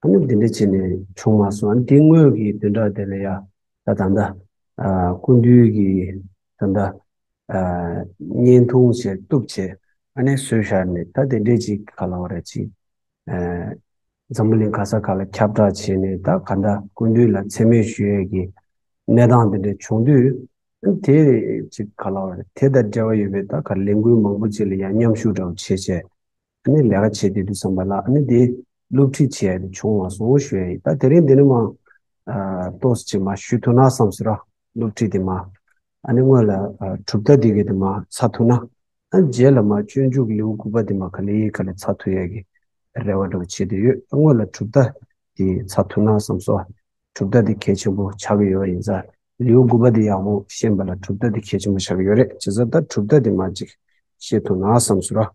ད་ནི་འདི་འདྲ་བྱས་ནས་བྱུང་མ་སོང་ཨ་ནི་དེ་སྔོན་གྱི་དོན་དག་དེ་ལ་ཡ་ད་ད་ལྟ་ཀུན་འདུས་ཀྱི་ད་ལྟ་བརྙན་ཐུང་བྱས་གཏུབ་བྱས་ཨ་ནི་བཟོས་བཞག་ནས་ད་དེ་འདྲས་ཅིག་ག་ལ་བ་རེད་ཅིག་འཛམ་བུ་གླིང་ག་ས་ག་ལ་ཁྱབ་བསྒྲགས་བྱས་ནས་ད་ག་ད་ཀུན་འདུས་ལ་འཚེ་མེད་ཞུ་ཡས་ཀྱི་གནས་སྟངས་དེ་འདྲས་བྱུང་དུས་ཨ་ནི་དེ་ཅིག་ག་ལ་བ་རེད་དེ་དང་འབྲེལ་བ་ཡོད་པའི་ད་ག་ལས་འགུལ་མང་པོ་ཅིག་ལ་ཡ་མཉམ་ཤུགས་དྲག་པོ་བྱས་བྱས་ཨ་ནི་ལས་ཀ་བྱེད་བསྡད་འདུག་བསམ་པ་ལ་ཨ་ནི་དེ་སློབ་ཁྲིད་བྱས་ཡས་དེ་བྱུང་བ་སོང་ཞུ་ཡ་ཡིན་ད་དེ་རིང་འདི་ནི་མ་གཏོགས་ཅིག་མ་ཞུ་ཐུ་ན་བསམ་ཟིན་རོགས་སློབ་ཁྲིད་དེ་མ་ཨ་ནི་དངོས་ལ་གྲུབ་ད་དེ་གི་དེ་མ་ཚ་ཐུ་ན་ཨ་རྗེས་ལ་མ་སྤྱོད་འཇུག་ལེའུ་དགུ་པ་དེ་མ་ག་ལེ་ཡིས་ག་ལེ་ཚ་ཐུ་ཡས་གི་རེ་བ་འདྲ་བོ་བྱེད་བསྡད་ཡོད་ཨ་དངོས་ལ་གྲུབ་ད་དེ་ཚ་ཐུ་ན་བསམ་སོ་གྲུབ་ད་དེ་གལ་ཆེན་པོ་ཆགས་གི་ཡོད་པ་ཡིན་ས་ལེའུ་དགུ་པ་དེ་ཡག་པོ་ཤེས་པ་ལ་གྲུབ་ད་དེ་གལ་ཆེན་པོ་ཆགས་གི་ཡོད་རེད་བྱས་ས་ད་གྲུབ་ད་དེ་མ་ཅིག་ཤེས་ཐུ་ན་བསམ་ཟིན་རོགས་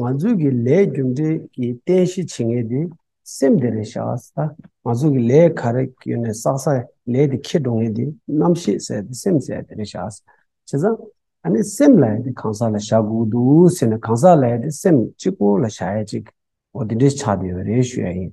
ང་ཚོས་ཀྱི་ལས་རྒྱུ་འབྲས་ཀྱི་རྟེན་གཞི་བྱེད་ངེས་དེ་སེམས་དེ་རེད་བྱ་ས་ང་ཚོ་གི་ལས་ག་རེ་གྱོན་ནས་བསགས་ས་ལས་དེ་ཁྱེར་འགྲོ་ངེས་དེ་རྣམ་ཤེས་ཟེར་དེ་སེམས་ཟེར་དེ་རེད་བྱ་ས་བྱེད་ས་ཨ་ནི་སེམས་ལ་ཡ་དེ་གང་ཟག་ལ་བྱ་དགོས་འདུག་ཟེར་ནས་གང་ཟག་ལ་ཡ་དེ་སེམས་གཅིག་པོ་ལ་བྱ་ཡ་གཅིག་གོ་དེ་འདྲས་ཆགས་དེ་རེད་ཞུ་ཡ་ཡིན།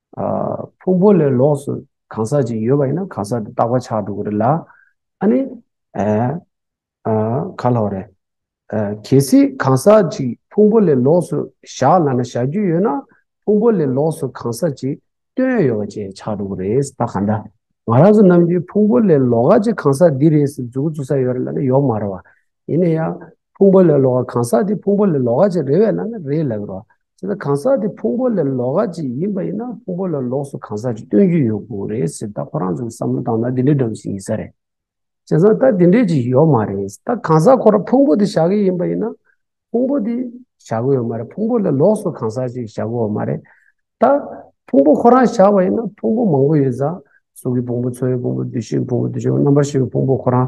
ཕུང་པོ་ལས་ལོགས་སུ་གང་ཟག་ཅིག་ཡོད་པ་ཡིན་ན་གང་ཟག་དེ་རྟག་པ་ཆགས་འགྲོ་གི་རེད་ལ། ཨ་ནི། ག་ལ་བ་རེད། གལ་སྲིད་གང་ཟག་ཅིག་ཕུང་པོ་ལས་ལོགས་སུ་བཞག་ལ་ན་བཞག་རྒྱུ་ཡོད་ན་ཕུང་པོ་ལས་ལོགས་སུ་གང་ཟག་ཅིག་སྟོན་ཡོད་པ་ཅན་ཆགས་འགྲོ་གི་རེད་ད་ག་འདྲ། ང་རང་ཚོ་རྣམས་ཀྱིས་ཕུང་པོ་ལས་ལོགས་ཀ་ཅིག་གང་ཟག་འདི་རེད་ཟེར་འཛུགས་འཛུགས་ས་ཡོད་རེད་ལ་ན་ཡོད་མ་རེད་བ། ཡིན་ན་ཡང་ཕུང་པོ་ལས་ལོགས་ཀ་གང་ཟག་འདི་ཕུང་པོ་ལས་ལོགས་ཀ་ཅིག་རེད་བས་ལ་ན་རེད་ལབ་རོགས། དེ་ལ་གང་ཟག་དེ་ཕུང་པོ་ལས་ལོགས་ཀ་ཅིག་ཡིན་པ་ཡིན་ན་ཕུང་པོ་ལ་ལོགས་སུ་གང་ཟག་ཅིག་སྟོན་རྒྱུ་ཡོད་དགོས་རེད་ཟེར་ད་ཁོ་རང་ཚོས་བསམ་བློ་བཏང་ན་དེ་འདྲའི་སྒྲོམ་གཞི་ཡིན་ས་རེད། བྱས་ཙང་ད་དེ་འདྲའི་ཅིག་ཡོད་མ་རེད་ད་གང་ཟག་ཁོ་རང་ཕུང་པོ་དེ་བཞག་གི་ཡིན་པ་ཡིན་ན་ཕུང་པོ་དེ་བཞག་གི་ཡོད་མ་རེད་ཕུང་པོ་ལས་ལོགས་སུ་གང་ཟག་ཅིག་བཞག་གི་འོ་མ་རེད། ད་ཕུང་པོ་ཁོ་རང་བཞག་པ་ཡིན་ན་ཕུང་པོ་མང་པོ་ཡོད་ཙང་གཟུགས་ཀྱི་ཕུང་པོ་ཚོར་བའི་ཕུང་པོ་འདུས་བྱས་ཀྱི་ཕུང་པོ་འདུས་བྱས་ཀྱི་རྣམ་པར་ཤེས་པའི་ཕུང་པོ་ཁོ་རང་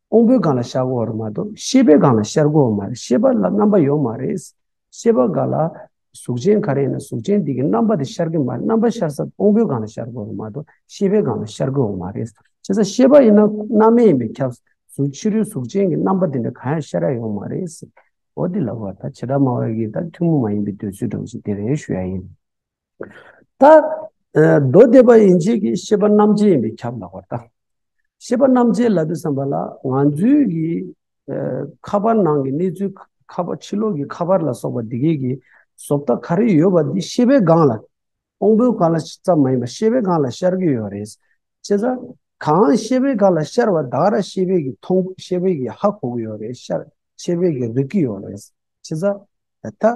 ཀོང་པོའི་སྒང་ལ་ཤར་སྒོ་བར་མ་གཏོགས་ཤེས་པའི་སྒང་ལ་ཤར་སྒོ་བར་མ་རེད་ཤེས་པ་ལ་རྣམ་པ་ཡོད་མ་རེད། ཤེས་པ་འགའ་ལ་གཟུགས་ཅན་ག་རེ་ཡིན་ན་གཟུགས་ཅན་དེ་གི་རྣམ་པ་དེ་ཤར་གི་མ་རེད་རྣམ་པ་ཤར་ས་ཀོང་པོའི་སྒང་ལ་ཤར་སྒོ་བར་མ་གཏོགས་ཤེས་པའི་སྒང་ལ་ཤར་སྒོ་བར་མ་རེད། བྱས་ཙང་ཤེས་པ་ཡིན་ན་སྣང་མེད་ཡིན་པས་ཁྱབ། གཟུགས་ཕྱི་རོལ་གཟུགས་ཅན་གི་རྣམ་པ་དེ་འདྲ་གང་ཡང་ཤར་ཡ་ཡོད་མ་རེད། འོ་དེ་ལ་བར་ཐག་ཇི་འདྲ་མང་བ་ཡོད་ཀྱི་ད་ཐུན་མོང་མ་ཡིན་པའི་འདོད་ཚུལ་སྒྲོག་ཅིག་དེ་རེ་ཞུ་ཡ་ཡིན། ད་མདོ་སྡེ་པ་ཡིན་བྱེད་ཀྱི་ཤེས་པ་རྣམ་བཅད་ཡིན་པས་ཁྱབ་ལགས་པར་བལྟ། ཤེས་པ་རྣམ་བཅད་ལབ་པའི་བསམ་པ་ལ་ང་ཚོའི་གི་ཁ་པར་ནང་གི་གནས་ཚུལ་ཁ་པར་ཕྱི་ལོགས་ཀྱི་ཁ་པར་ལ་སོགས་པ་འདི་གའི་གི་བཟོ་ལྟ་ག་རེ་ཡོད་པ་འདི་ཤེས་པའི་སྒང་ལ་སྤོང་པོའི་སྒང་ལ་ཙམ་མ་ཡིན་པ་ཤེས་པའི་སྒང་ལ་ཤར་གྱི་ཡོད་རེད། བྱས་ཙང་གང་ཤེས་པའི་སྒང་ལ་ཤར་བ་དག་ར་ཤེས་པས་གི་མཐོང་ཤེས་པས་གི་ཧ་གོ་གི་ཡོད་རེད་ཤར་ཤེས་པས་གི་རིག་གི་ཡོད་རེད། བྱས་ཙང་ད།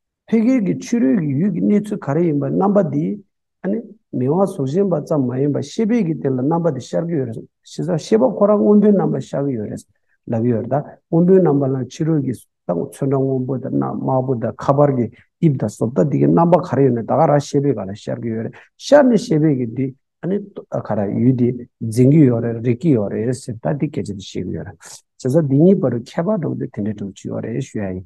ཕལ་སྐད་ཀྱི་ཕྱི་རོལ་གྱི་ཡུལ་གྱི་གནས་ཚུལ་ག་རེ་ཡིན་པ་རྣམ་པ་འདིས་ཨ་ནི་མི་དབང་གཟུགས་གཞན་པ་ཙམ་མ་ཡིན་པར་ཤེས་པས་ཀྱི་དེ་ལ་རྣམ་པ་འདི་ཤར་གྱི་ཡོད་རེད་ཞེས་སོགས་ཤེས་པ་ཁོ་རང་སྔོན་པོའི་རྣམ་པ་ཤར་གྱི་ཡོད་རེད་ལབ་ཀྱི་ཡོད་རེད་ད་སྔོན་པོའི་རྣམ་པ་ལ་ཕྱི་རོལ་གྱི་ཚོན་ཁྲ་སྔོན་པོ་དང་དམར་པོ་དང་ཁ་པར་གྱི་དབྱིབས་དང་སོ་ལྟ་འདི་གའི་རྣམ་པ་ག་རེ་ཡོད་ན་ད་ག་རང་ཤེས་པས་ག་ལ་ཤར་གྱི་ཡོད་རེད་ཤར་ནས་ཤེས་པས་ཀྱི་འདི་ཨ་ནི་ག་རང་ཡུལ་འདི་འཛིན་གྱི་ཡོད་རེད་རིག་གྱི་ཡོད་རེད་ཟེར་ད་འདི་སྐད་ཆ་འདི་ཤེས་ཀྱི་ཡོད་རེད་ཞེས་སོགས་འདི་གཉིས་བར་གྱི་ཁྱད་པར་འགྲོ་གི་འདི་དེ་འདྲའི་འགྲོ་གི་ཡོད་རེད་ཞུ་ཡ་ཡིན།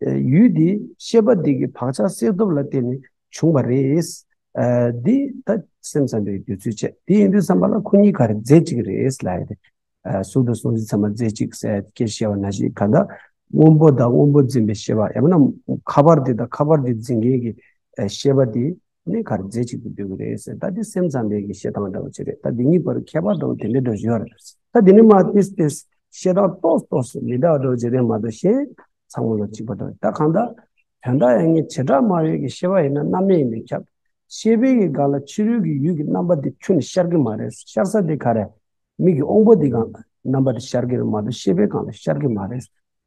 ཡུལ་འདིའི་ཤེས་པ་འདི་གི་བག་ཆགས་བསལ་སྟོབས་ལ་བརྟེན་ནས་བྱུང་བ་རེད། འདི་ད་སེམས་ཙམ་པའི་འདོད་ཚུལ་བྱས། དེ་ཡིན་དུས་བསམ་པ་ལ་ཁོ་གཉིས་གར་རྫས་གཅིག་རེད་ལ། གསུང་དང་གསུང་གཞི་ཚང་མ་རྫས་གཅིག་གསལ་སྐད་བཤད་བ་ན་ཞིག་ག་དང། སྔོན་པོ་དང་སྔོན་པོ་འཛིན་པའི་ཤེས་པ་ཡང་ན་ཁ་པར་དེ་དང་ཁ་པར་དེ་འཛིན་མཁན་གྱི་ཤེས་པ་དེ། གནས་གར་རྫས་གཅིག་ཏུ་འདོད་ཀྱི་རེད་ཟེར་ད་དེ་སེམས་ཙམ་པའི་གི་བཤད་སྟངས་འདྲ་བོ་ཅི་རེད་ད་འདི་གཉིས་བར་ཁྱད་པར་དང་དེ་འདྲ་འདྲ་ཞུ་བ་རེད་ད་འདི་ནི་མ་ཏིས་ཏིས་བཤད་སྟངས་རྟོགས་རྟོགས་སུ་མི་གདའ་འགྲོ་ཅི་རེད་མ་གཏོགས་གཞན་ཚང་མ་ལ་གཅིག་པ་འདྲ་རེད་ད་གང་ལྟར་དོན་དག་ཡང་ངས་བྱེ་བྲག་སྨྲ་བའི་གི་ཤེས་པ་ཡིན་ན་རྣམ་སྨིན་ཡིན་པས་ཁྱབ། ཤེས་པའི་གི་ག་ལ་ཕྱི་རོལ་གི་ཡུལ་གི་རྣམ་པ་དེ་ཁྱོད་ནི་ཤར་གི་མ་རེད་ཤར་ས་དེ་ག་རེད། མིག་གི་དབང་པོ་དེ་གང་རྣམ་པ་དེ་ཤར་གི་རེད་མ་གཏོགས་ཤེས་པའི་གང་ལ་ཤར་གི་མ་རེད།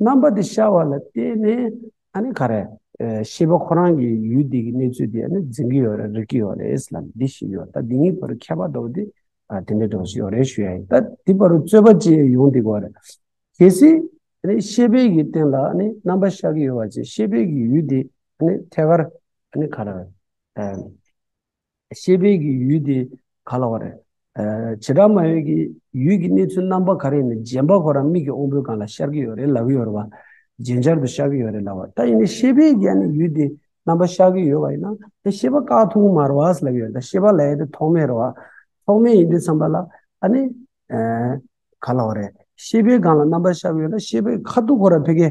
རྣམ་པ་དེ་ཤར་བ་ལ་བརྟེན་ནས་ཨ་ནི་ག་རེ། ཤེས་པ་ཁོ་རང་གི་ཡུལ་འདི་གི་གནས་ཚུལ་དེ་ཨ་ནི་འཛིན་གྱི་ཡོད་རེད་རིག་གི་ཡོད་རེད་ལ་འདི་ཞིག་ཡོད་ད་འདི་གཉིས་བར་ཁྱད་པར་འདུག་དེ། དེ་འདྲའི་དོགས་གཞི་ཡོད་རེད་ཞུ་ཡ་ཡིན་ད་འདི་བར་རྩོད་པ་བཅས་ཡོང་འདི་གོ་རེད། གལ་སྲིད། ཨ་ནི་ཤེས་དཔལ་གྱི་སྟེང་ལ་ཨ་ནི་རྣམ་པ་ཤར་གྱི་ཡོད་བ་བཅས་ཤེས་དཔལ་གྱི་ཡུལ་འདི་ཨ་ནི་ཐད་ཀར་ཨ་ནི་ག་རེ། ཤེས་དཔལ་གྱི་ཡུལ་དེ་ག་ལ་བ་རེད། བྱེ་བྲག་མ་ཡོད་ཀྱི་ཡུལ་གྱི་གནས་ཚུལ་རྣམ་པ་ག་རེ་ཡིན་ནམ་རྗེན་པ་ཁོ་རང་མིག་གི་དབང་པོའི་སྒང་ལ་ཤར་གྱི་ཡོད་རེད་ལབ་ཡོད་རེད་བ། རྗེན་ཤར་དུ་ཤར་གྱི་ཡོད་རེད་ལབ་བ། ད་ཡིན་ནའི་ཤེས་དཔལ་གྱི་ནི་ཡུལ་དེ་རྣམ་པ་ཤར་གྱི་ཡོད་བ་ཡིན་ན་ནི་ཤེས་པ་དཀའ་ཐུང་མ་རེད་བ་ལབ་ཡོད་རེད་ད་ཤེས་པ་ལ་ཡེ་དེ་ཐོག་མེད་རེད་བ། ཐོག་མེད་ཡིན་དུས་བསམ་པ་ལ་ཨ་ནི། ག་ལ་བ་རེད། ཤེས་དཔལ་སྒང་ལ་རྣམ་པ་ཤར་གྱི་ཡོད་ན་ཤེས་དཔལ་ཁ་ཐུག་ཁོ་རང་ཕེ་ཁའི་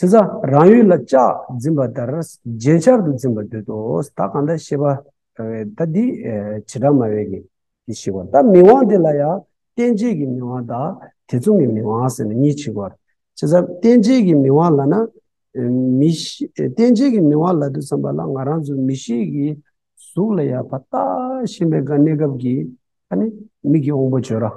ཚེ་ས་རང་ཡུལ་ལ་ལྕགས་འཛིན་པ་ལྟར་རྗེན་ཤར་དུ་འཛིན་པར་འདོད་དོ། ད་གང་དག་ཤེས་པ་ད་འདི་བྱེ་བྲག་མ་བས་ཀྱི་དེ་ཞིག་བར་ད་མིག་དབང་དེ་ལ་ཡང་རྟེན་བྱེད་ཀྱི་མིག་དབང་དང་དེ་མཚུངས་ཀྱི་མིག་དབང་ཟེར་ན་གཉིས་ཆིག་བར། ཚེ་ས་རྟེན་བྱེད་ཀྱི་མིག་དབང་ལ་ན་མི་རྟེན་བྱེད་ཀྱི་མིག་དབང་ལ་དུ་བསམ་པ་ལ་ང་རང་ཚོ་མི་ཞིག་གི་གཟུགས་ལ་ཡང་བར་ད་ཤེས་པའི་གནས་སྐབས་ཀྱི་ད་ནི་མིག་གི་དབང་པོ་བརྗོད་ར།